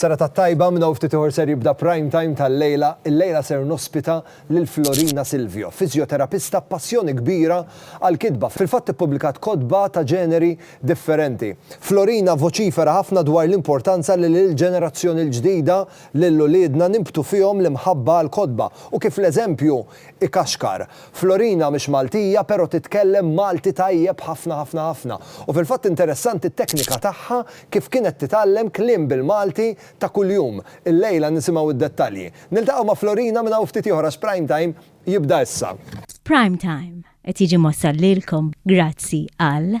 Seretat tajba, minn hawn ftit ieħor ser jibda Prime Time tal-lejla, illejla ser nospita lil Florina Silvio, fiżjoterapista b'passjoni kbira għall-kitba, fil-fatt ippubblikat kotba ta' ġeneri differenti. Florina voċifera ħafna dwar l-importanza li lill-ġenerazzjoni l-ġdida, lil uliedna, nimbtu fihom l-imħabba għall-kotba u kif l-eżempju ikaxkar. Florina mhix Maltija pero titkellem Malti tajjeb ħafna ħafna ħafna u fil-fatt interessanti t-teknika tagħha kif kienet titgħallem kliem bil-Malti ta' kuljum. Illejla nisimgħu d-dettalji. Niltaqgħu ma' Florina minn hawn ftit ieħor għax Prime Time jibda issa. Prime Time qed jiġi mwassal lilkom grazzi għal.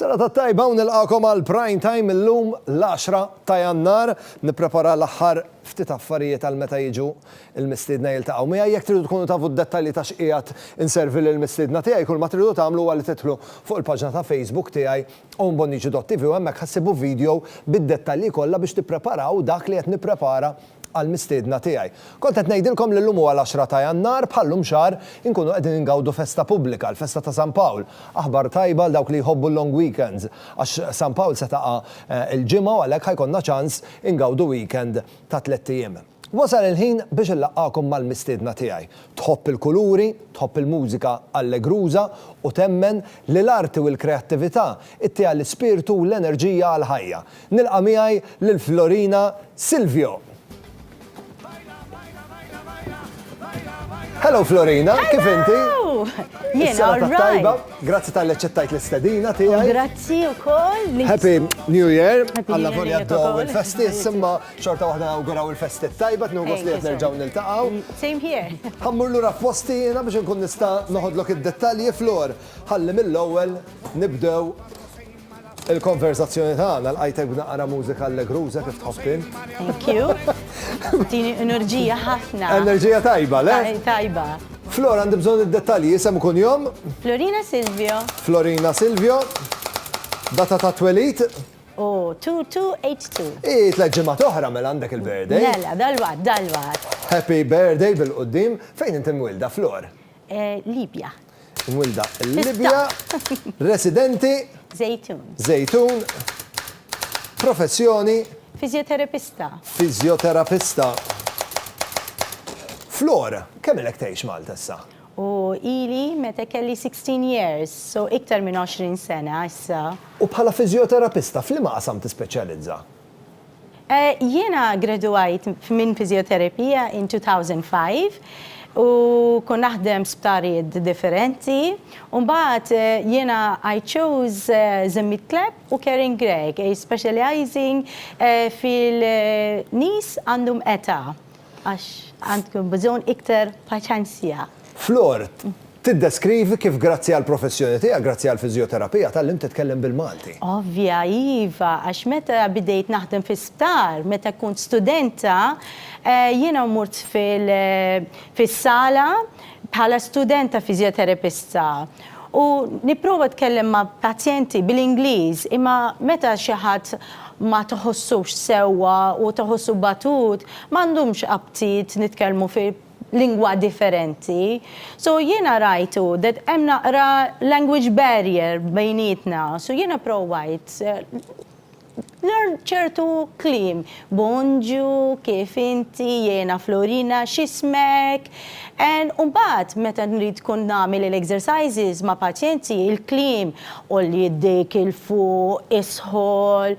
Serata tajba u nilqakom għal prime time illum l-10 ta' jannar nipprepara l-aħħar ftit affarijiet għal meta jiġu il-mistiedna jiltaqgħu miegħi jekk tridu tkunu tafu d-dettalji ta' x'qiegħed inservi lil mistiedna tiegħi kull ma tridu tagħmlu huwa li tidħlu fuq il-paġna ta' Facebook tiegħi Owen Bonnici dot TV u hemmhekk ħa ssibu video bid-dettalji kollha biex tippreparaw dak li qed nipprepara għall-mistiedna tiegħi. Kont qed ngħidilkom li llum huwa l-għaxra ta' Jannar, bħal llum xahar inkunu qegħdin ingawdu festa pubblika, l-festa ta' San Pawl. Aħbar tajba għal dawk li jħobbu l-long weekends, għax San Pawl se taqa' il-Ġimgħa u għalhekk ħa jkollna ċans ingawdu weekend ta' tlett ijiem. Wasal il-ħin biex inlaqqagħkom mal-mistiedna tiegħi. Tħobb il-kuluri, tħobb il-mużika allegruża u temmen li l-arti u l-kreattività ittiha l-ispirtu u l-enerġija għall-ħajja? Nilqa' miegħi lil Florina Silvio! Hello Florina, kif inti? Jiena all right! Grazzi talli aċċettajt l-istedina tiegħi. Grazzi wkoll. Happy New Year! Alla volja għaddew il-festi, imma Xorta waħda nawguraw il-festi t-tajba, tnu għos li jtnerġaw nil-taqaw. Same here. Għammur l-ura f-fosti jena biex nkun nista noħodlok id-dettalji flor. Għalli mill-ewel nibdew il-konverzazzjoni tagħna l-qajtek b'naqra mużika allegruża kif tħobbin. Thank you. Tini enerġija ħafna. Enerġija tajba, le? Tajba. Flor, għandi bżon id-dettalji, jisem kun jom? Florina Silvio. Florina Silvio. Data ta' twelit? Oh, 2282. Ii, tliet ġimgħat oħra mela għandek il-birthday. Mela, dal-waqt, dal-waqt. Happy birthday bil-quddiem. Fejn inti mwilda, Flor? Eh, Libja. Mwilda l-Libja. Residenti? Zejtun. Zejtun. Professjoni? Fizjoterapista. Fizjoterapista. Flor, kemm ilek tgħix Malta issa? U ili meta kelli sixteen years, so iktar minn għoxrin sena issa. U bħala fiżjoterapista f'liema qasam tispeċjalizza? Jiena ggraduajt minn fiżjoterapija in two thousand five u kont naħdem f'sptarijiet differenti u mbagħad jiena I chose Zammit Clapp u Karen Gregg specializing fil-nies għandhom età Għax għandkom bżonn iktar paċenzja. Flor, tiddeskrivi kif grazzi għall-professjoni tiegħek, grazzi għall-fiżjoterapija, tgħallimt titkellem bil-Malti. Ovvja, iva, għax meta bidejt naħdem fi sptar, meta kont studenta, jiena mort fil-sala bħala studenta fiżjoterapista. U nipprova tkellem ma' pazjenti bil-Ingliż imma meta xi ħadd ma tħossux sewwa u tħossu batut m'għandhomx aptit nitkellmu fi lingwa differenti. So jiena rajtu that hemm naqra language barrier bejnietna so jiena provajt Learn ċertu kliem, Bonġu, kif inti, jiena Florina, x'ismek? And u mbagħad meta nrid tkun nagħmel il-exercises ma' pazjenti, il-kliem, għolli jdejk 'il fuq, isħol,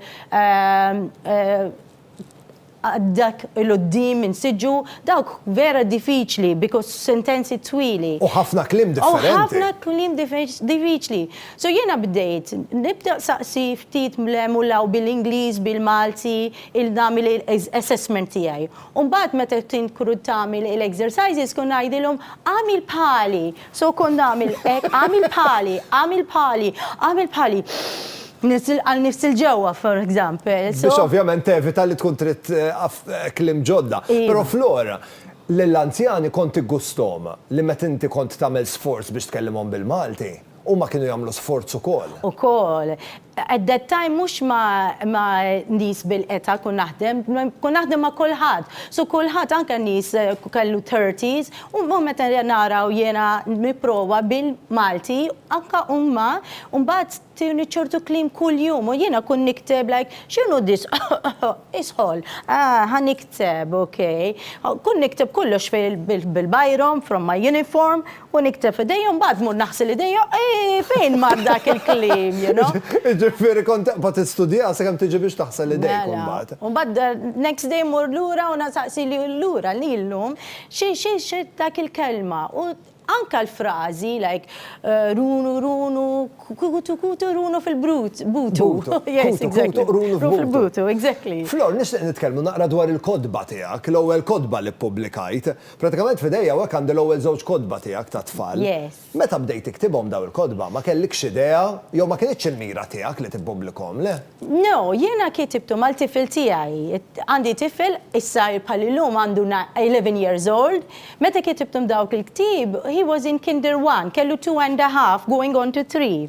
Dak 'il quddiem insiġġu dawk vera diffiċli bi sentenzi twili. U ħafna kliem differenti. U ħafna kliem diffiċli. So jiena bdejt nibda nsaqsi ftit mlem u law bil-Ingliż, bil-Malti, nagħmel assessment tiegħi. U mbagħad meta tkun tagħmel il-exercises kont ngħidilhom għamil bħali. So kont nagħmel hekk, agħmel bħali, agħmel bħali, agħmel bħali. Niżżel għal nifsi 'l ġewwa, for example. So. Biex ovvjament tevita li tkun trid taf kliem ġodda. Iva. Però Flora, lill-anzjani kont iggusthom li meta inti kont tagħmel sforz biex tkellimhom bil-Malti, huma kienu jagħmlu sforz ukoll. Ukoll. At that time mhux ma' nies bil-qeta kont naħdem, kont naħdem ma' kulħadd. So kulħadd anke nies kellu thirties u mbagħad meta nara u jiena nipprova bil-Malti anke huma mbagħad tuni ċertu kliem kuljum u jiena kont nikteb like x'inhu this isħol ah ħa nikteb ok. Kont nikteb kollox bil-bajrom from my uniform U nikteb f'idejja u mbagħad mur naħsil idejja, eeh fejn mar dak il-kliem, you know? Jiġifieri kont taqbad tistudja sakemm tiġi biex taħsel idejk imbagħad. Mela. U mbagħad the next day mmur lura u nasaqsi lil lura li llum xi xi xi dak il-kelma u anke l-frażi like runu runu kutu kutu runu fil-brut butu. Butu. Yes, exactly. Kutu kutu runu f'butu. Runu f'butu, exactly. Flor, nixtieq nitkellmu naqra dwar il-kotba tiegħek, l-ewwel kotba li ppublikajt. Pratikament f'idejja hawnhekk għandi l-ewwel żewġ kotba tiegħek tat-tfal. Yes. Meta bdejt tiktibhom dawn il-kotba, ma kellikx idea, jew ma kinitx il-mira tiegħek li tippubblikhom, le? No, jiena kitibthom għal tifel tiegħi. Għandi tifel, issa bħal illum għandu na, eleven years old, meta kitibthom dawk il-ktieb, he was in kinder one, kellu two and a half, going on to three.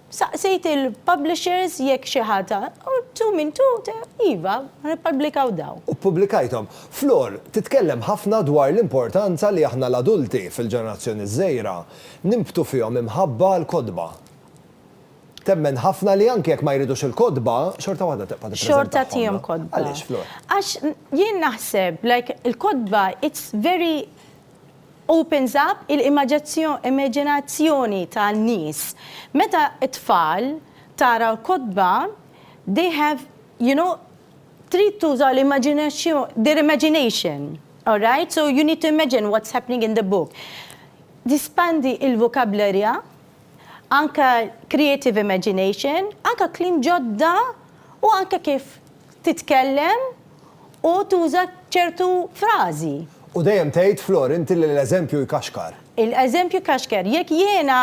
Saqsejt il-publishers jekk xi ħadd ha, u tu min tu, iva, ħa nippubblikaw dawn. U ppubblikajthom. Flor, titkellem ħafna dwar l-importanza li aħna l-adulti, fil-ġenerazzjoni ż-żgħira, nimbtu fihom imħabba għall-kotba. Temmen ħafna li anke jekk ma jridux il-kotba, xorta waħda tibqa' tippreżentahomlhom. Xorta tihom kotba. Għaliex, Flor? Għax jien naħseb, like, il-kotba, it's very, Opens up il-imaġinazzjoni ta' nies. Meta t-tfal tara l-kotba, they have, you know, trid tuża their imagination, all right, so you need to imagine what's happening in the book. Tispandi l-vocabulary, anke creative imagination, anke kliem ġodda u anke kif titkellem u tuża ċertu frażi. U dejjem tgħid, Flor, inti li l-eżempju jkaxkar. Il-eżempju jkaxkar. Jekk jiena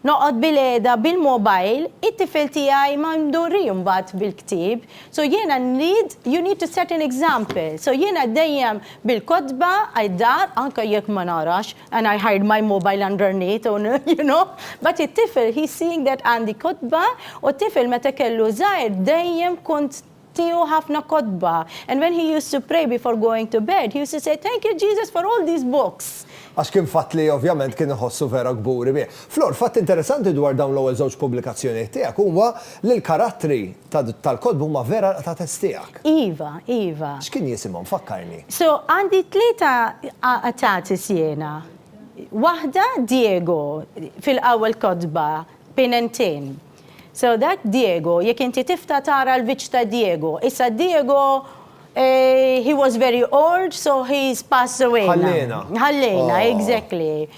noqgħod bilqiegħda bil-mobile, it-tifel tiegħi ma ndorri mbagħad bil-ktieb. So jiena nrid, you need to set an example. So jiena dejjem bil-kotba, I-dar, anke jekk ma narax, and I hide my mobile underneath u you know, but it-tifel he's seeing that għandi kotba u t-tifel meta kellu żgħir dejjem kont tiehu ħafna kotba and when he used to pray before going to bed he used to say thank you Jesus for all these books. Għax kien fatt li ovvjament kien iħossu vera kburi bih. Flor, fatt interessanti dwar dawn l-ewwel żewġ pubblikazzjonijiet tiegħek huwa Li l-karattri tal-kotba huma vera l-qtates tiegħek. Iva, iva. X'kien jisimhom, fakkarni? So, għandi tlieta qtates jiena. Waħda Diego, fil-ewwel kotba, Pin and Tin. So, dak Diego, jekk inti tiftaħ tara l-viċċ ta' Diego. Issa Diego, he was very old, so he's passed away now. Ħalliena. Ħalliena, exactly.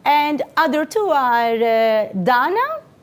And other two are Dana,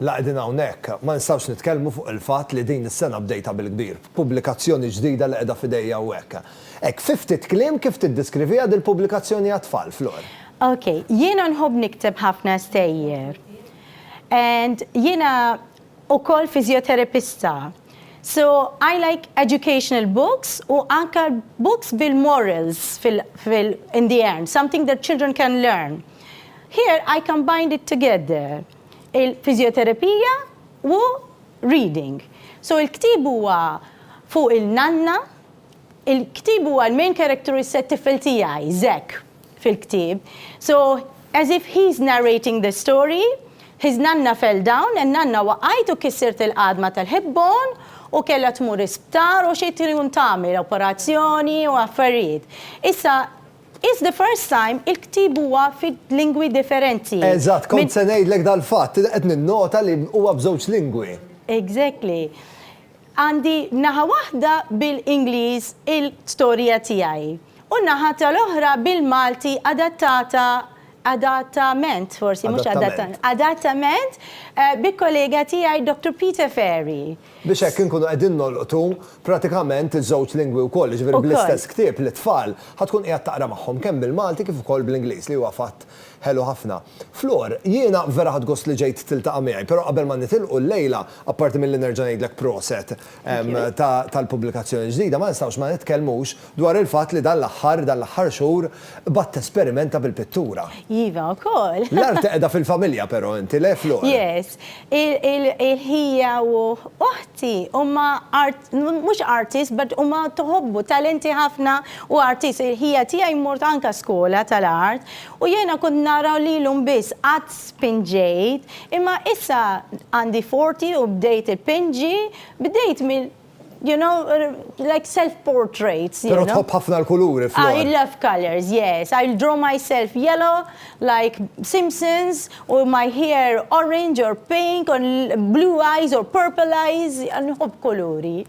La qegħdin hawnhekk, ma nistgħux nitkellmu fuq il-fatt li din is-sena bdejtha bil-kbir, b'pubblikazzjoni ġdida li qiegħda f'idejja hawnhekk. Hekk fi ftit kliem kif tiddiskriviha dil-pubblikazzjoni għat-tfal, Flor? Ok, jiena nħobb nikteb ħafna stejjer and jiena ukoll fiżjoterapista so I like educational books u anke books bil-morals fil in the end, something that children can learn. Here I combined it together. il-fiżjoterapija u reading. So il-ktieb huwa fuq il-nanna, il-ktieb huwa l-main character is it-tifel tiegħi, Zek, fil-ktieb. So as if he's narrating the story, his nanna fell down, in-nanna waqgħet u kissirt il-għadma tal-hip bone u kellha tmur isptar u xi tkun tagħmel operazzjoni u affarijiet. Issa It's the first time il-ktieb huwa fi lingwi differenti. Eżatt, kont se ngħidlek dal-fatt, qed ninnota li huwa b'żewġ lingwi. Exactly. Għandi naħa waħda bil-Ingliż il-storja tiegħi u n-naħa tal-oħra bil-Malti adattata, adattament forsi, mhux adattament, adattament bi kollega tiegħi Doctor Peter Ferry. Biex hekk inkunu qegħdin nolqtu pratikament iż-żewġ lingwi wkoll, jiġifieri bl-istess ktieb lit-tfal ħa tkun qiegħed taqra magħhom kemm bil-Malti kif ukoll bl-Ingliż li huwa fatt ħelu ħafna. Flor, jiena vera ħadt gost li ġejt tiltaqa' miegħi, però qabel ma nitilqu llejla, apparti milli nerġa' ngħidlek proset tal-pubblikazzjoni l-ġdida, ma nistgħux ma nitkellmux dwar il-fatt li dan l-aħħar, dan l-aħħar xhur, bgħadt tesperimenta bil-pittura. Iva, ukoll. L-arti qiegħda fil-familja però inti, le Flor? Yes. Il-ħija u uħti huma mhux artists but huma tħobbu talenti ħafna u artists. Il-ħija tiegħi mort anke skola tal-art u jiena kont nara lilhom biss qatt spinġejt imma issa għandi forti u bdejt ipinġi bdejt mill You know, like self-portraits. Pero tħobb ħafna l-kuluri, Flor. I love colors, yes. I'll draw myself yellow, like Simpsons, or my hair orange or pink, or blue eyes or purple eyes, nħobb kuluri.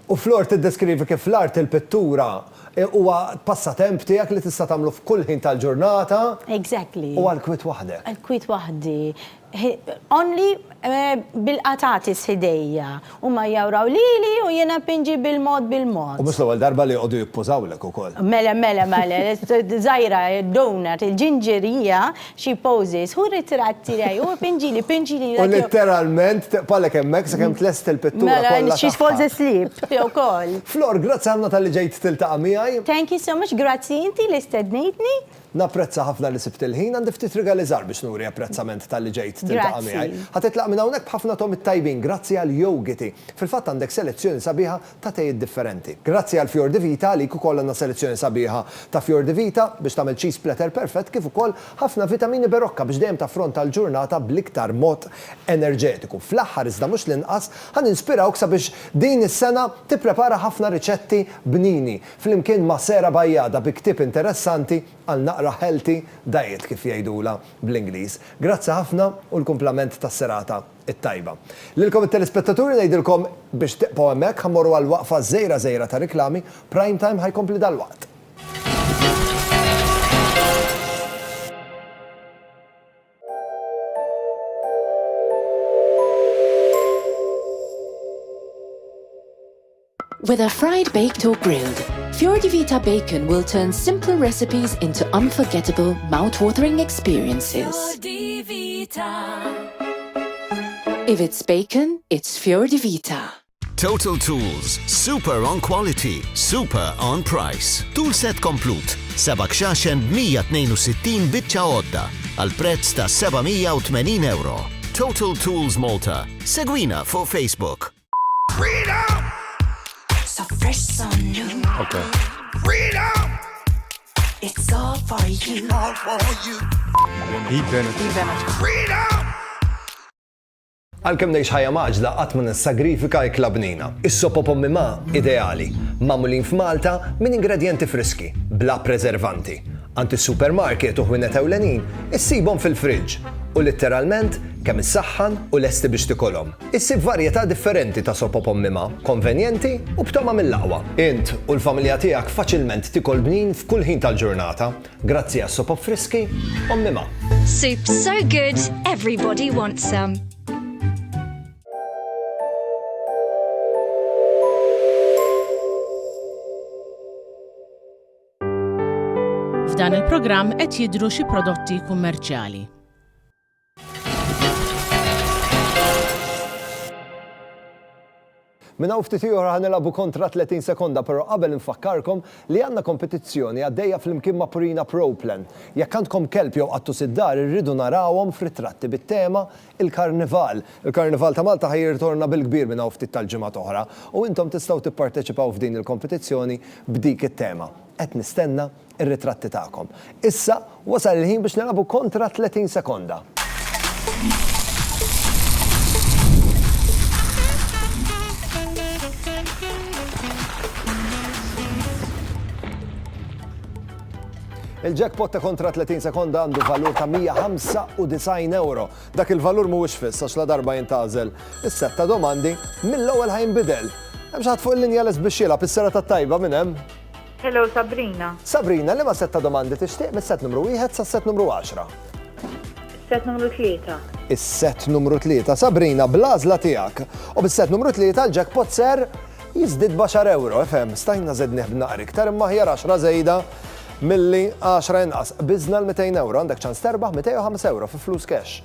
U Flor tiddeskrivi kif l-art il-pittura e, huwa passatemp tiegħek li tista' tagħmlu f'kull ħin tal-ġurnata. Exactly. U għal kwiet waħdek. Għal kwiet waħdi. Only bil-qatatis f'idejja. Huma jjawraw lili u jiena npinġi bil-mod bil-mod. U mhux l-ewwel darba li joqogħdu jippużawlek ukoll. Mela, mela, mela, żgħira, donut, il-ġinġerija, xi poses, hu r-ritratt tiegħi, hu pinġili, pinġili. U litteralment teqbagħlek hemmhekk sakemm tlesti l-pittura kollha tagħha. Mela, she falls asleep, tiegħu wkoll. Flor, grazzi ħafna talli ġejt tiltaqa' miegħi. Thank you so much, grazzi inti li stednejtni. Napprezza ħafna li sibt il-ħin, għandi ftit rigali żgħar biex nuri apprezzament talli ġejt tiltaqa' miegħi. Grazzi. Ħa titlaq minn hawnhekk b'ħafna togħmiet tajbin grazzi għal Yogiti. Fil-fatt għandek selezzjoni sabiħa ta' tejiet differenti. Grazzi għal Fior di Vita, għalik ukoll għandna selezzjoni sabiħa ta' Fior di Vita biex tagħmel cheese platter perfett kif ukoll ħafna vitamini Berocca biex dejjem taffronta l-ġurnata bl-iktar mod enerġetiku. Fl-aħħar iżda mhux l-inqas, ħa ninspirawk sabiex din is-sena tipprepara ħafna riċetti bnini. flimkien ma' Sarah Bajada bi ktieb interessanti għal naqra healthy diet kif jgħidulha bl-Ingliż. Grazzi ħafna u l-kumplament tas-serata t-tajba. Lilkom it-telespettaturi ngħidilkom biex tibqgħu hemmhekk ħa mmorru għal waqfa żgħira żgħira ta' riklami, Prime Time ħa jkompli dalwaqt. Whether fried, baked or grilled, Fior di Vita Bacon will turn simple recipes into unforgettable, mouth-watering experiences. Fior di Vita. If it's bacon, it's Fior di Vita. Total Tools, super on quality, super on price. Tool set komplut, seba' kxaxen b'162 biċċa għodda għal prezz ta' 780 euro. Total Tools Malta. Segwina fuq Facebook. Okay. Freedom! It's all for you. All for you. Heat Bennett. Heat Bennett. Freedom! Għalkemm ngħix ħajja maġla qatt ma nissagrifika ikla bnina. Is-sopo pommi ma ideali, magħmulin f'Malta minn ingredjenti friski, bla preservanti. Għand is-supermarket u ħwienet ewlenin issibhom fil-friġġ u litteralment kemm issaħħan u lesti biex tikolhom. Issib varjetà differenti ta' soppa b'ommimha, konvenjenti u b'togħma mill-aqwa. Int u l-familja tiegħek faċilment tikol bnin f'kull ħin tal-ġurnata grazzi għas-sopop friski ommimha. Soup so good, everybody wants some. F'dan il-programm qed jidhru xi prodotti kummerċjali. Minna u ftit ieħor ħanilabu kontra 30 sekonda, però qabel infakkarkom li għandna kompetizzjoni għaddejja flimkien ma' Purina Proplan. Jekk għandkom kelb jew qattus id-dar irridu narawhom f'ritratti bit-tema il-Karnival. Il-Karnival ta' Malta ħa jirritorna bil-kbir minn hawn ftit tal-ġimgħat oħra u intom tistgħu tipparteċipaw f'din il-kompetizzjoni b'dik it-tema. Qed nistenna r-ritratti tagħkom. Issa wasal il-ħin biex nilagħbu kontra 30 sekonda. Il-jackpot ta' kontra 30 sekonda għandu valur ta' €195. Dak il-valur mhuwiex fiss għax ladarba jintgħażel is-sett ta' domandi, mill-ewwel ħa jinbidel. Hemm xi ħadd fuq il-linja lest biex jilgħab is-serata t-tajba minn hemm? Hello, Sabrina. Sabrina, liema sett ta' domandi tixtieq mis-sett numru wieħed sas-sett numru għaxra? Is-sett numru tlieta. Is-sett numru tlieta. Sabrina, bl-għażla tiegħek u bis-sett numru tlieta l-jackpot ser Jiżdied b'għaxar ewro, ifhem, stajna żednih b'naqra iktar imma aħjar għaxra żejda milli għaxra inqas. Qbiżna l-200 ewro, għandek ċans terbaħ 205 ewro fi flus cash.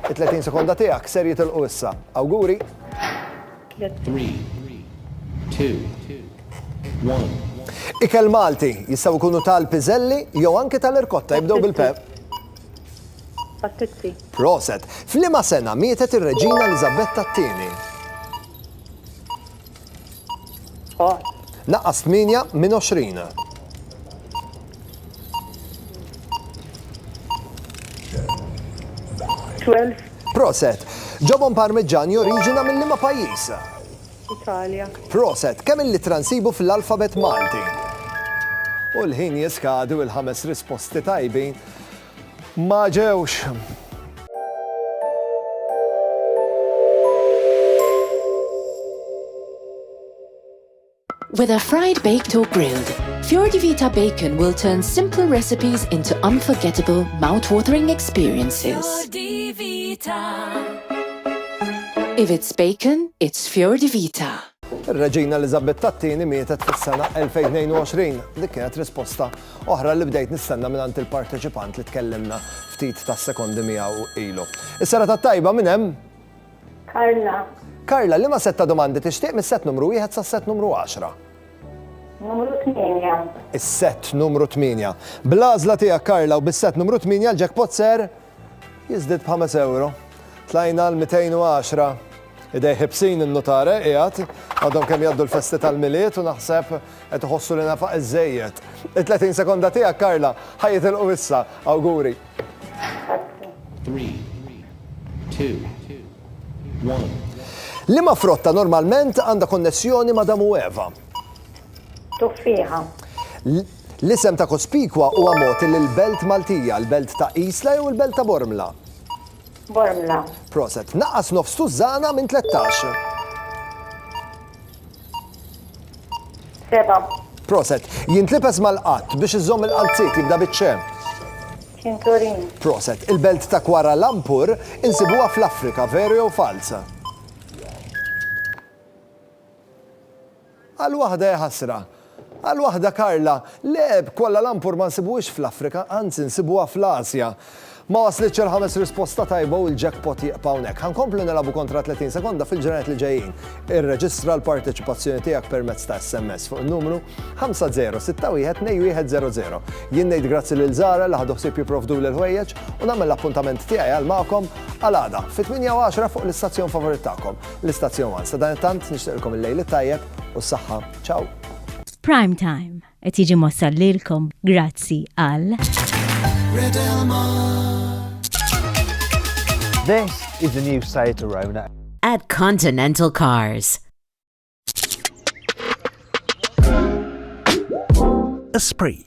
It-30 sekonda tiegħek ser jitilqu issa. Awguri! 3, 2, 1. Ikel Malti jistgħu jkunu tal-piżelli jew anke tal-irkotta jibdew bil-pep. Pattizzi. Proset. Flima sena mietet ir-Reġina Elizabetta t-tieni. Naqqas 8 minn 20. Proset, ġobon parmiġġan joriġina minn liema pajjiż? Italja. Proset, kemm il-litra nsibu fl-alfabet Malti? U l-ħin jiskadi u l-ħames risposti tajbin Ma ġewx. Whether fried, baked or grilled, Fjordi Vita Bacon will turn simple recipes into unforgettable, mouth-watering experiences. Fjordi Vita. If it's bacon, it's Fjordi Vita. Reġina Elizabetta II mietet fis-sena 2022. Dik kienet risposta oħra li bdejt nistenna mingħand il-parteċipant li tkellimna ftit tas-sekondi miegħu ilu. Is-serata t-tajba minn hemm? Karla. Karla, liema sett ta' domandi tixtieq mis-sett numru wieħed sas-sett numru 10? Numru 8. Is-sett numru 8. Bl-għażla tiegħek Karla u bis-sett numru 8 l-jackpot ser? Jiżdied b'ħames ewro. Tlajna għal 210. Idej ħibsin in-nutar eh, qiegħed. Għadhom kemm jgħaddu l-festi tal-Milied u naħseb qed iħossu li nafaq iżżejjed. It-30 sekonda tiegħek Karla ħa jitilqu issa. Awguri. 3 2 1 Liema frotta normalment għandha konnessjoni ma' Damu Eva? Tuffiħa. L-isem ta' Cospicua huwa mogħti lill-belt Maltija, l-belt ta' Isla jew il-belt ta' Bormla? Bormla. Proset. Naqqas nofs tużżana minn tlettax. Seba'. Proset. Jintlibes mal-qatt biex iżomm il-qalziet jibda biċ-ċe. Cinturin. Proset. Il-belt ta' Kuala Lumpur insibuha fl-Afrika, veru jew falz? Għal waħda hi ħasra. Għal waħda Karla, Le, b'Kuala Lumpur ma nsibuhiex fl-Afrika, anzi nsibuha fl-Asja. Ma waslitx il-ħames risposta tajba u l-jackpot jieqpa hawnhekk. Ħa nkomplu nilagħbu kontra 30 sekonda fil-ġranet li ġejjin. Irreġistra l-parteċipazzjoni tiegħek permezz ta' SMS fuq in-numru 50612100. Jien ngħid grazzi lil Zara li ħadu ħsieb jipprovduli l-ħwejjeġ u nagħmel l-appuntament tiegħi għal magħkom għal għada fit-8:10 fuq l-istazzjon favorit tagħkom. L-Istazzjon One. Sadanittant nixtieqilkom il-lejl it-tajjeb u s-saħħa. Ciao! Prime Time qed jiġi mossal lilkom grazzi għal This is the new Seat Arona. At Continental Cars. Esprit.